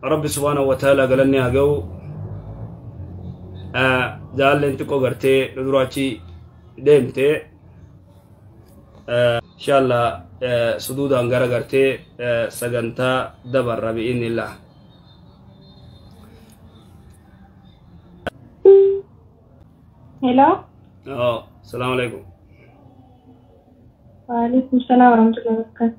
Rabbi subhaanahu wa ta'ala galanni haa ga'u jaalleen xiqqoo gartee duraachi deemte inshaalla suduudaan gara gartee sagantaa dabarra bi'innillah Hello. salaamu alaikum Waalaikum salaam warahmatullahi wabarakatuh.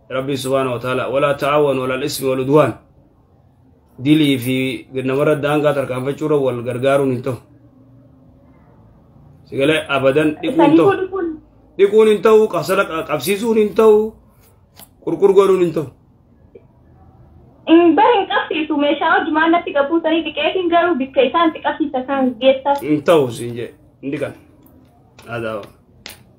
Rabbiin subhaanahu wa ta'aala walaa ta'aawanu alal ismi wal udwaan dilii fi namarra daangaa tarkaanfachuurra wal gargaaruun hin ta'u. Sigalee abadan dhiquun hin ta'u. Dhiquun hin ta'u, qabsala qabsiisuun hin ta'u, qurqur godhuun hin ta'u. Hin bare hin qabsiisu meeshaa hojii maal natti qabbuusanii dhiqeetiin garuu bikka isaan itti qabsiisa kan geessa. Hin ta'u siin jedhe. Hin dhiqan. Haa ta'u.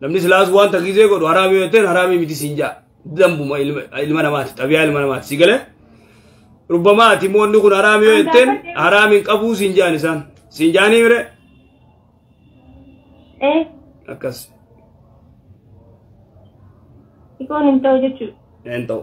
Namni silaas waan takiisee godhu haraamii yoo ta'e haraamii miti siin jaa. Dambuma ilma namaati xabiyaa ilma namaati si galee. Rubbamaa ati immoo inni kun haraamii yoo ta'e haraamiin qabuu siin jaan isaan. Siin jaanii mire Eh, akkas ikoon hin ta'u jechuudha. hin ta'u.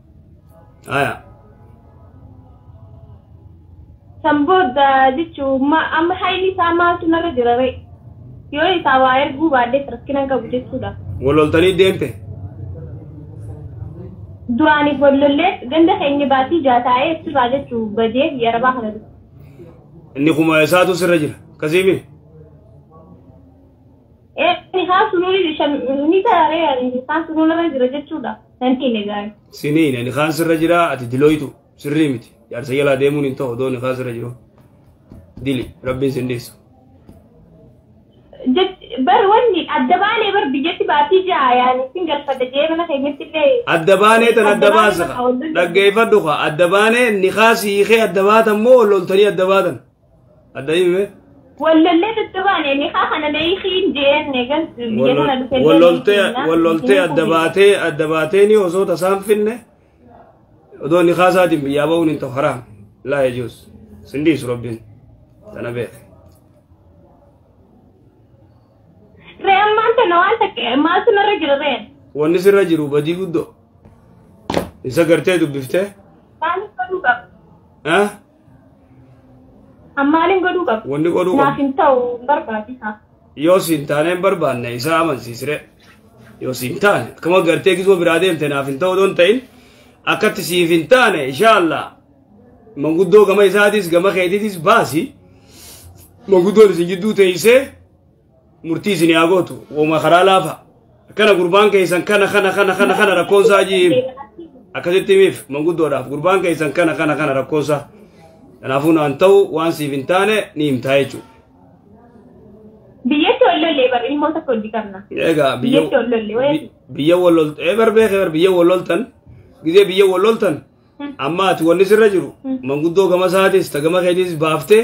Aya. San booda jechuun ma- amma hayni isaa maaltu narra jira ree? Yoo isaa waa erguu baadhees rakkina hin qabu jechuudha. Wal loltanii deemte. Duraaniif wal lollee ganda keenya baatii ja'a taa'ee achirraa jechuun badee biyya arabaa kana dhufe. Inni kuma isaatu sirra jira. Akkasiimi. Eeni haa sunuun shan ni taare ani haa sunuun irra jira jechuudha. Nan hiine gaari. Siniin ani kaan sirra jira ati dilooytu sirrii miti jaarsa jalaa deemuun hin ta'u dooni kaan sirra jiru dili rabbiin sin dhiisu. Bar wanni adda baanee bar biyyatti baatii ja'a yaani sin galfadha jee mana keenyatti illee. Adda baanee tan adda baasa dhaggeeffadhu kaa adda baanee nikaa siikee adda baatan moo loltanii adda baatan. Adda hime. Wallollee tuttubaane nikaa kana beekiin jeen eegas biyya kana dhufee Walloltee walloltee adda baatee adda baatee ni osoo tasaan finne odoo nikaa isaatiin biyyaa ba'uun hin ta'u haraam. Laa yajuus. Sindiisu rabbiin. Tana beeke. Ree ammaan tana waan takka maaltu narra jira ree? Wanni sirra jiru badii guddoo. Isa gartee dubbiftee. Maaliif godhuu qaba? Ah? An maalin godhuu qaba? Wanni godhuu Naaf qabu hin ta'u hin barbaachisa. yoo siin taane hin barbaanne isaa amansiisire. Yoo siin taane akkuma gartee kisoo biraa deemte naaf hin ta'u doon ta'in akkatti siif hin taane inshaallah manguddoo gama isaatis gama keetitis baasi manguddoon isin jidduu teessee murtii isin yaa gootu woma karaa laafa akkana gurbaan keessan kana kana kana kana kana rakkoon isaa jiim akkasitti himiif manguddoodhaaf gurbaan keessan kana kana kana rakkoon isaa kanaafuu naan ta'u waan siif hin taane ni himtaa jechuudha. Biyyatti ol lollee bara ilmoo tokko hojii qabna. Egaa biyya Biyyatti ol lollee wayii. bi- biyya wal loltan ee bar beekee bar biyya wal loltan gizee biyya wal loltan amma ati wanni sirra jiru manguddoo gama isaatis ta gama keetis baaftee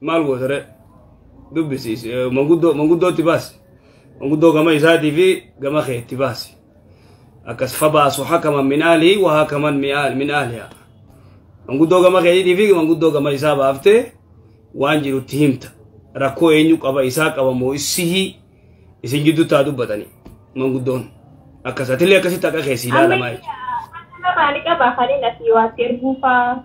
maal gootare dubbisi manguddoo manguddootti baasi manguddoo gama isaatii fi gama keetti baasi akkas fabaasu hakaman min aalihi wa hakaman min aaliha manguddoo gama keetii fi manguddoo gama isaa baaftee waan jirutti himta rakkoo eenyu qaba isaa qaba moo isihii isin jidduu taa dubbatani manguddoon akkas atillee akkasitti akka keessi ilaalamaa jechuudha. Amma maali qabaa kan inni asii waatti erguufaa?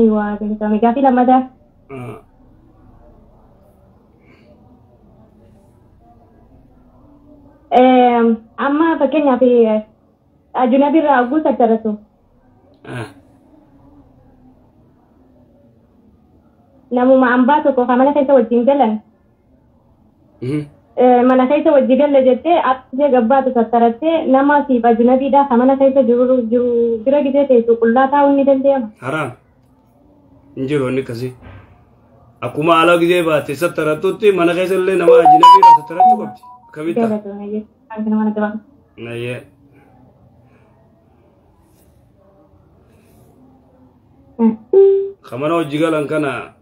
Eeywa galatoome gaafii lammataa. Eem, Amma fakkeenyaaf eh, ajunabii irraa hogguu tattaratu namuma ambaa tokko kan mana keessa wajjin galan mana keessa wajji galle jettee arsee gabbaatu tattarattee nama siif ajinabiidhaa ka mana keessa jiru jiru bira gisee teessu qullaa taa'uun ni danda'ama. Haraam. Hin jiru inni akkasii. Akkuma ala gisee baate sattarattutti mana keessa illee nama ajinabiidhaa sattarachuu qabdi. Akkamitti? Galatoomi jechuun kan mana gabaatu. Nayyee. Ka mana hojii galan kana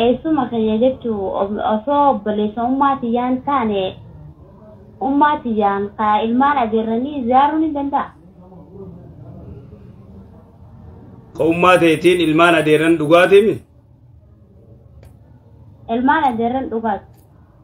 Eessuma kiyya jechuun osoo obboleessa ummaa tiyyaa hin taane ummaa tiyyaan ka ilmaan adeerranii ziyaaruun hin danda'a. Ka ummaa teetiin ilmaan adeerran dhugaatimi? Ilmaan adeerran dhugaati.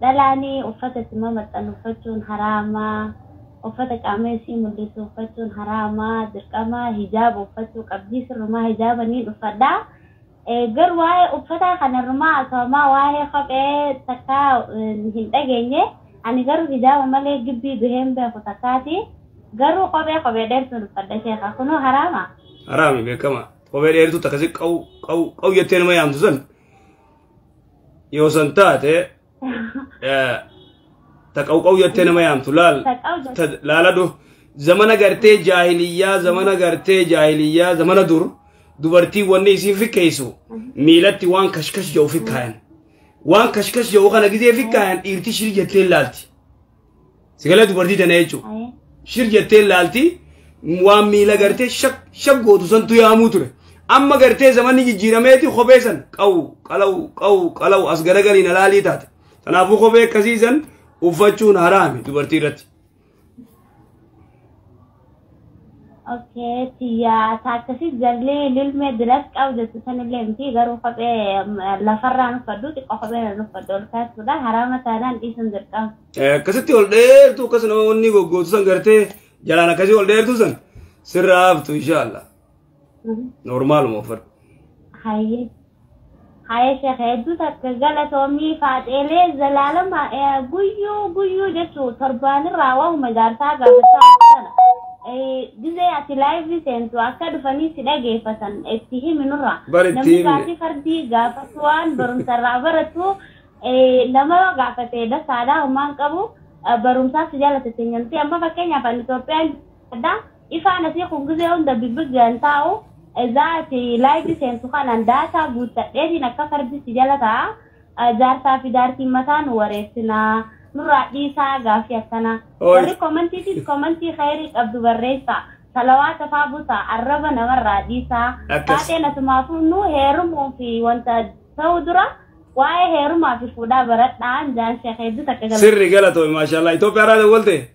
Dhalaanii uffata itti mamaxxannu uffachuun haraama, uffata qaama isii mul'isu uffachuun haraama, dirqama hijaaba uffachuu qabdi, sirrumaa hijaaba niin uffadha. Garuu waa'ee uffataa kana irrumaa haasa'amaa waa'ee kophee takkaa hin dhageenye. Ani garuu hijaaba malee gibbii bahee hin beeku takkaati. Garuu kophee kophee dheertuun uffadha sheekha. Kunoo haraama? Haraami beekama. Kophee dheertuu takka si qawu qawu qawu jettee nama yaamtu san Yoo san taate eh, ta qawqaw jettee nama yaamtu laal Taqaw jette. ta- laala du zamana gartee jaahiliyyaa zamana gartee jaahiliyyaa zamana dur dubartiin wanni isiin fikkeessu miilatti waan kashkash jedhu fikkaayan waan kashkash jedhu kana gizee fikkaayan dhiirti shiri jettee laalti Sigala dubartii tana jechuun. Ayee. Shir jettee laalti waan miila gartee shak shak gootu santu yaamuu ture. Amma gartee zamanni jijjiirameeti kophee san qawu qalawu qawu qalawu as garagaliin alaalii taate. Kanaafuu kophee akkasii san uffachuun haraami dubartii irratti. Okay tiyyaa taakkasii jallii lilmee dilat qabu jettu sanillee miti garuu kophee lafarraa nuffadhu xiqqoo kophee na nuffadhu ol kaasuudha haraama taanaan dhiisuun dirqama. Akkasitti ol dheertuu akkas nama wanni goggootu san gartee jalaan akkasii ol dheertuu san sirraa haftu inshaallah. Noormaaluma uffadhu. Hayyee. Haye sheekh hedduu takka galatoomii faaxeelee zalaalama eh, guyyuu guyyuu jechuu torbaanirraa waa'uma jaarsaa gaafachaa ooltana. Eh, Gizee ati laayivii seentu akka dhufanii si dhageeffatan itti himi nurra. Bar itti Namni himne. gaafii fardii gaafatu waan barumsarraa baratu eh, nama yoo gaafate dasaadhaa homaan qabu eh, barumsaa si jaalata teenyamti. Amma fakkeenyaaf ani Itoophiyaan Hadha ifaa natii kun gizee hunda bibigyan taa'u ezaa ati live seentu kanan data guuttadheetiin akka kardi si jala taa'a jaarsaa fi jaartiin mataa nu wareersina nurraa dhiisaa gaafii akkana Ooy. warri commentiitis commentii khayrii qabdu barreessaa salawaata faa busaa arraba namarraa dhiisaa Akkas. faaxeen asumaa fuudhnu heerumuu fi wanta ta'uu dura waa'ee heerumaa fi fuudhaa baradhaan jaan sheekh hedduu takka galata Sirri galatoomi maashaallah. Itoophiyaa irraa dawwalte?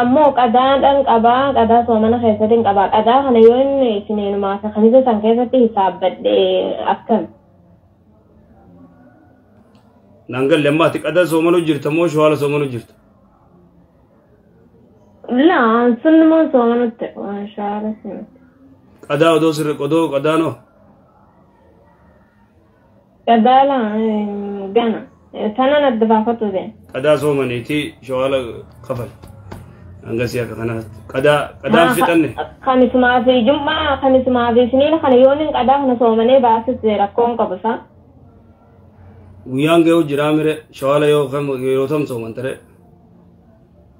ammoo qadaa dhan qaba qadaa soomana keessatin qaba qadaa kana yoo inni isniinumaa fi kamisa san keessatti hisaabbadhe akkami Naan galle amma ati qadaa soomanuu jirta moo shawala soomanuu jirta? laa sunnumaan soomanutti inshaalla sinutti Qadaa odoo sirri qodoo qadaanoo? Qadaala gana tanan adda baafatu bee. Qadaa soomaniitii shawaala kafal. Hangasii akka kanaatti. Qadaa qadaan Haa fixanne. kamisumaa fi jum'aa kamisumaa fi isniina kana yooniin qadaa kana soomanee baasis rakkoon qabu isaa. Guyyaan ga'u jiraa mire shawaala yoo kam yeroo tam soomantare.